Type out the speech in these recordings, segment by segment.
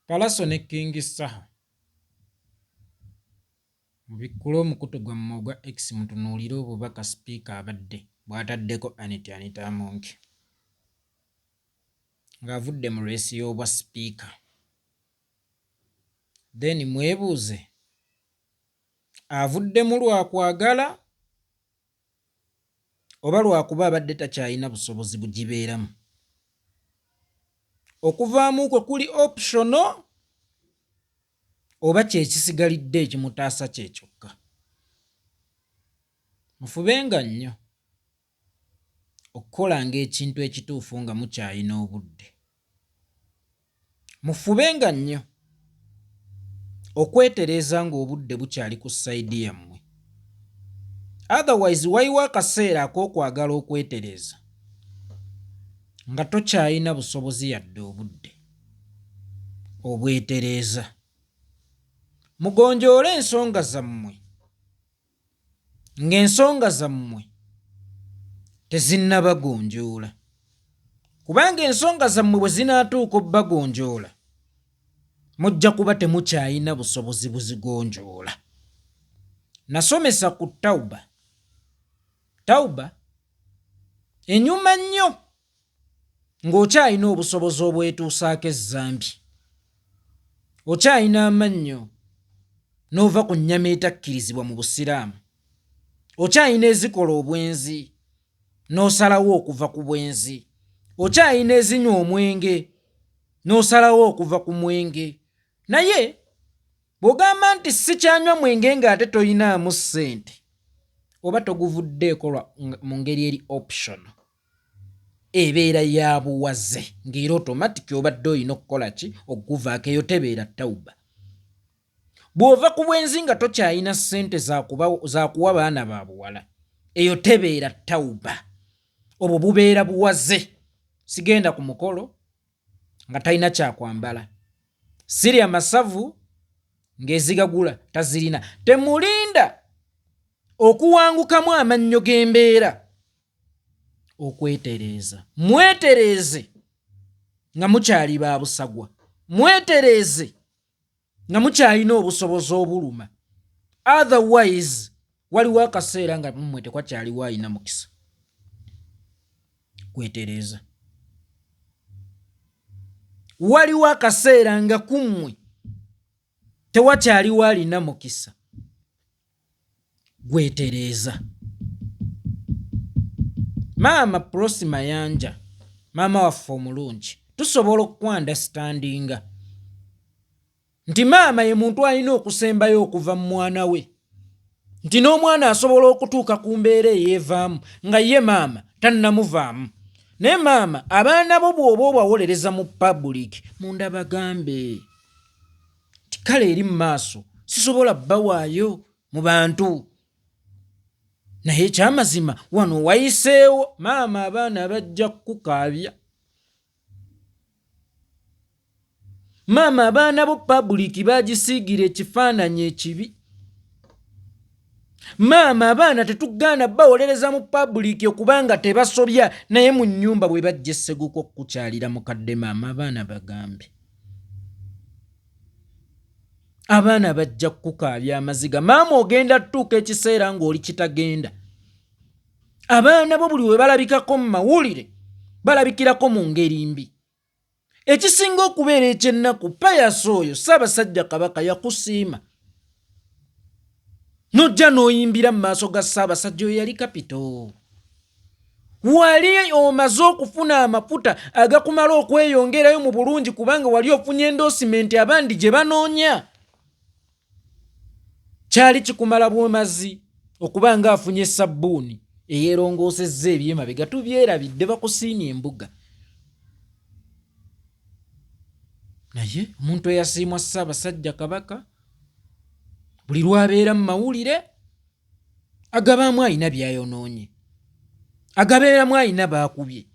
Palaso ne King Saha mubikkule omukutu gwammwe ogwa X mutunuulire obubaka sipiika abadde bwataddeko Annet Anita Among ng'avudde mu reesi y'obwa sipiika then mwebuuze avuddemu lwakwagala oba lwa kuba abadde takyalina busobozi bugibeeramu, okuvaamu kwe kuli optional oba kye kisigalidde ekimutaasa kye kyokka. Mufubenga nnyo okukolanga ekintu ekituufu nga mukyalina obudde. Mufubenga nnyo okwetereeza ng'obudde bukyali ku sayidi yammwe. Otherwise waliwo akaseera ak'okwagala okwetereeza nga tokyalina busobozi yadde obudde obwetereeza. Mugonjoole ensonga zammwe. ng'ensonga zammwe tezinnabagonjoola kubanga ensonga zammwe bwe zinaatuuka obbagonjoola mujja kuba temukyalina busobozi buzigonjoola nasomesa ku tawuba tawuba enyuma nnyo ng'okyalina obusobozi obwetuusaako ezzambi, okyalina amannyo n'ova ku nnyama etakkirizibwa mu Busiraamu, okyalina ezikola obwenzi n'osalawo okuva ku bwenzi, okyalina ezinywa omwenge n'osalawo okuva ku mwenge, naye bw'ogamba nti sikyanywa mwenge ng'ate tolinaamu ssente oba toguvuddeeko mu ngeri eri optional. ebeera ya buwaze nga era otomatiki obadde olina okukola ki okuguvaako eyo tebeera tawuba bw'ova ku bwenzi nga tokyalina ssente za kuwa baana ba buwala eyo tebeera tawuba obwo bubeera buwaze sigenda ku mukolo nga talina kyakwambala siri amasavu ng'ezigagula tazirina temulinda okuwangukamu amannyo g'embeera okwetereeza mwetereeze nga mukyali ba busagwa mwetereeze nga mukyalina obusobozi obuluma otherwise waliwo akaseera nga mmwe tekwakyaliwo alina mukisa kwetereeza waliwo akaseera nga kummwe tewakyaliwo alina mukisa gwetereeza maama prosi mayanja maama waffe omulungi tusobola okukwandastandinga nti maama ye muntu alina okusembayo okuva mu mwana we nti n'omwana asobola okutuuka ku mbeera eyeevaamu nga ye maama tannamuvaamu naye maama abaana bo bw'oba obawolereza mu pabulik munda bagambe kale eri mu maaso sisobola bawaayo mu bantu naye ekyamazima wano wayiseewo maama abaana bajja kukukaabya maama abaana bo pabuliki bagisiigira ekifaananyi ekibi maama abaana tetugaana bawolereza mu pabuliki okubanga tebasobya naye mu nyumba bwe bajja esseguka okukukyalira mukadde maama abaana bagambye abaana bajja kukukaabya amaziga maama ogenda tutuuka ekiseera ng'oli kitagenda abaana bo buli we balabikako mu mawulire balabikirako mu ngeri mbi ekisinga okubeera ekyennaku payasi oyo ssaabasajja kabaka yakusiima nojja n'oyimbira mu maaso ga ssaabasajja oyo yali kapito wali omaze okufuna amafuta agakumala okweyongerayo mu bulungi kubanga wali ofunye endosimenti abandi gye banoonya kyali kikumala bwomazi okuba nga afunye sabbuuni eyerongoosezza ebyemabega tubyerabidde bakusiimye embuga naye omuntu eyasiimwa ssaabasajja kabaka buli lwabeera mu mawulire agabaamu alina byayonoonye agabeeramu alina baakubye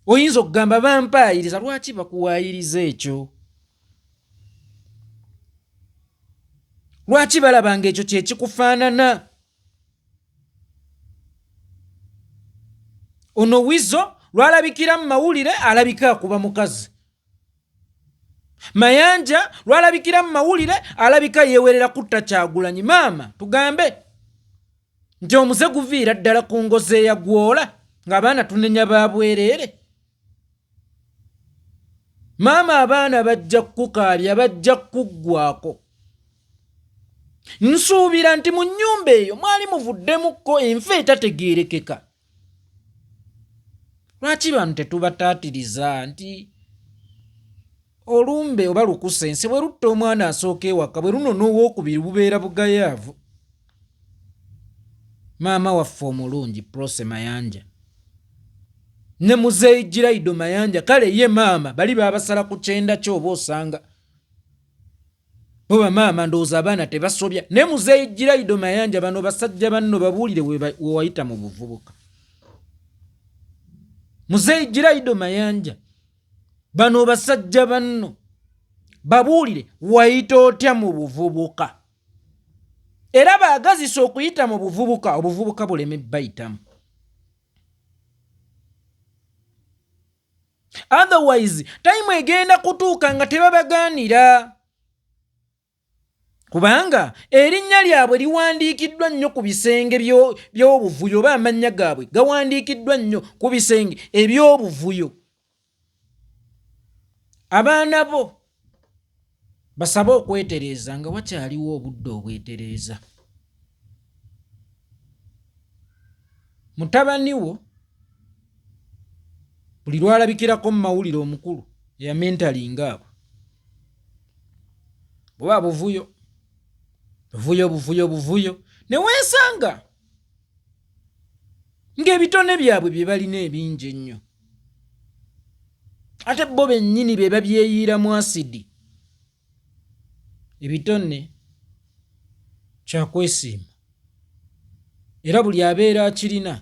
oyinza okugamba bampaayiriza lwaki bakuwaayiriza ekyo lwaki balaba nga ekyo kyekikufaanana ono wizo lwalabikira mu mawulire alabika akuba mukazi mayanja lwalabikira mu mawulire alabika yeewerera kutta kyagulanyi maama tugambe nti omuze guviira ddala ku ngozi eyagwola ng'abaana tunenya babwereere maama abaana bajja kukukaabya bajja kukuggwako nsuubira nti mu nnyumba eyo mwali muvuddemukko enfa etategeerekeka lwaki bantu tetubataatiriza nti olumbe oba lukusa ensi bwe lutta omwana asooka ewaka bwe luno n'owokubiri bubeera bugayaavu maama waffe omulungi prose mayanja ne muzeeyi giraido mayanja kale ye maama bali babasala ku kyenda kyoba osanga Bo bamaama ndowooza abaana tebasobya naye muzeeyi Giraido Mayanja bano basajja banno babuulire wewayita mu buvubuka. Muzeeyi Giraido Mayanja bano basajja banno babuulire wayita otya mu buvubuka era baagazisa okuyita mu buvubuka obuvubuka buleme bayitamu. otherwise time egenda kutuuka nga tebabagaanira kubanga erinnya lyabwe liwandiikiddwa nnyo ku bisenge by'obuvuyo oba amannya gaabwe gawandiikiddwa nnyo ku bisenge eby'obuvuyo abaana bo Basabe okwetereeza nga wakyaliwo obudde obwetereeza. Mutabani wo buli lwalabikirako mu mawulire omukulu eyamentalinga abo buba buvuyo buvuyo buvuyo buvuyo newesanga ng'ebitone byabwe bye balina ebingi ennyo ate bo bennyini be babyeyiiramu asidi ebitone kyakwesiima era buli abeera akirina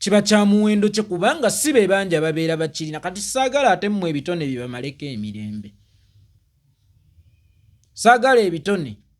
kiba kya muwendo kye kubanga si be bangi ababeera bakirina kati saagala ate mmwe ebitone bye bamaleko emirembe saagala ebitone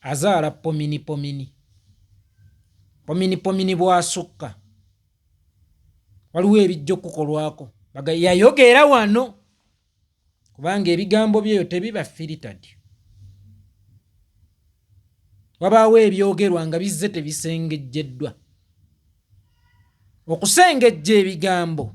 azaala pominipomini pominipomini bwasukka waliwo ebijja okukukolwako baga yayogeera wano kubanga ebigambo byeyo tebiba filitad wabaawo ebyogerwa nga bizze tebisengejjeddwa okusengejja ebigambo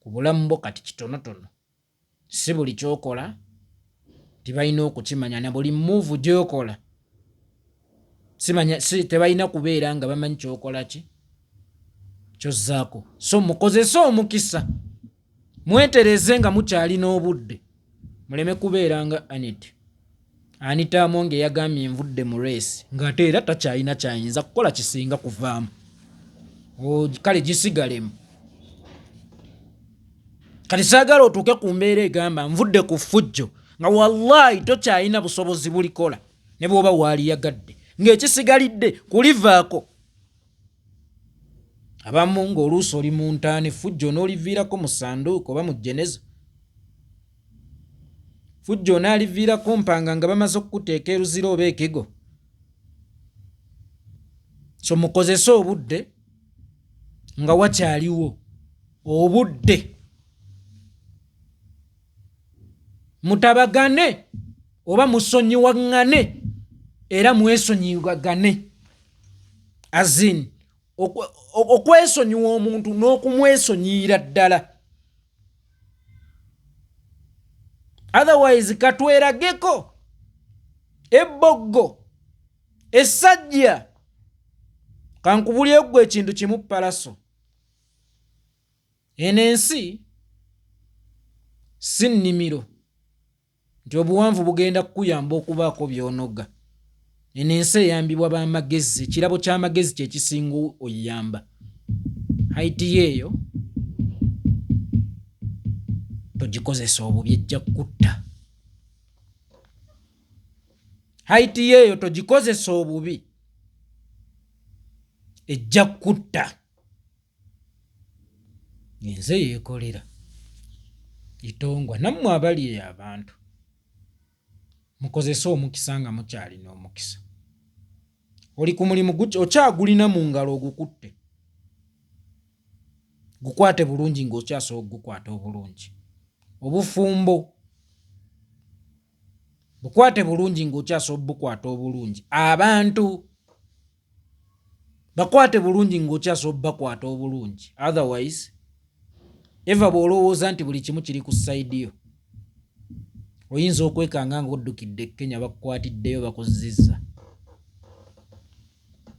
ku bulamu bwo kati kitonotono. Si buli ky'okola nti balina okukimanya, na buli mmuuvu gy'okola tebalina kubeera nga bamanyi ky'okola ki ky'ozzaako. So mukozese omukisa mwetereeze nga mukyalina obudde. muleme kubeera nga Annet. Anita Among eyagambye nvudde mu reesi ng'ate era takyalina kyayinza kukola kisinga kuvaamu kale gisigalemu kati saagala otuuke ku mbeera egamba nvudde ku ffujjo nga wallahi tokyalina busobozi bulikola ne bw'oba waaliyagadde ng'ekisigalidde kulivaako abamu ng'oluusi oli mu ntaana effujjo onooliviirako mu sanduuko oba mu jeneza fujjo onaaliviirako mpanga nga bamaze okukuteeka eruzira oba ekigo so mukozese obudde nga wakyaliwo obudde mutabagane oba musonyiwaŋŋane era mwesonyiwagane azin okwesonyiwa omuntu n'okumwesonyiyira ddala otherwise katwerageko ebboggo essajja kankubulyeggwa ekintu kimu palaso eno ensi si nnimiro nti obuwanvu bugenda kukuyamba okubaako by'onoga. Eno ensi eyambibwa ba magezi, ekirabo ky'amagezi kye kisinga oyamba. Hayiti yo eyo togikozesa obubi ejja kukutta. Hayiti yo eyo togikozesa obubi ejja kukutta. nze yekolera itongwa nammwe abali eyo abantu mukozese omukisa nga mukyalina omukisa oli ku mulimu okyagulina mu ngalo ogukutte gukwate bulungi ng'okyasobola okugukwata obulungi obufumbo bukwate bulungi ng'okyasobola obukwata obulungi abantu bakwate bulungi ng'okyasobola obakwata obulungi otherwise eva bw'olowooza nti buli kimu kiri ku sayidi yo oyinza okwekanga ng'oddukidde e kenya bakukwatiddeyo bakuzizza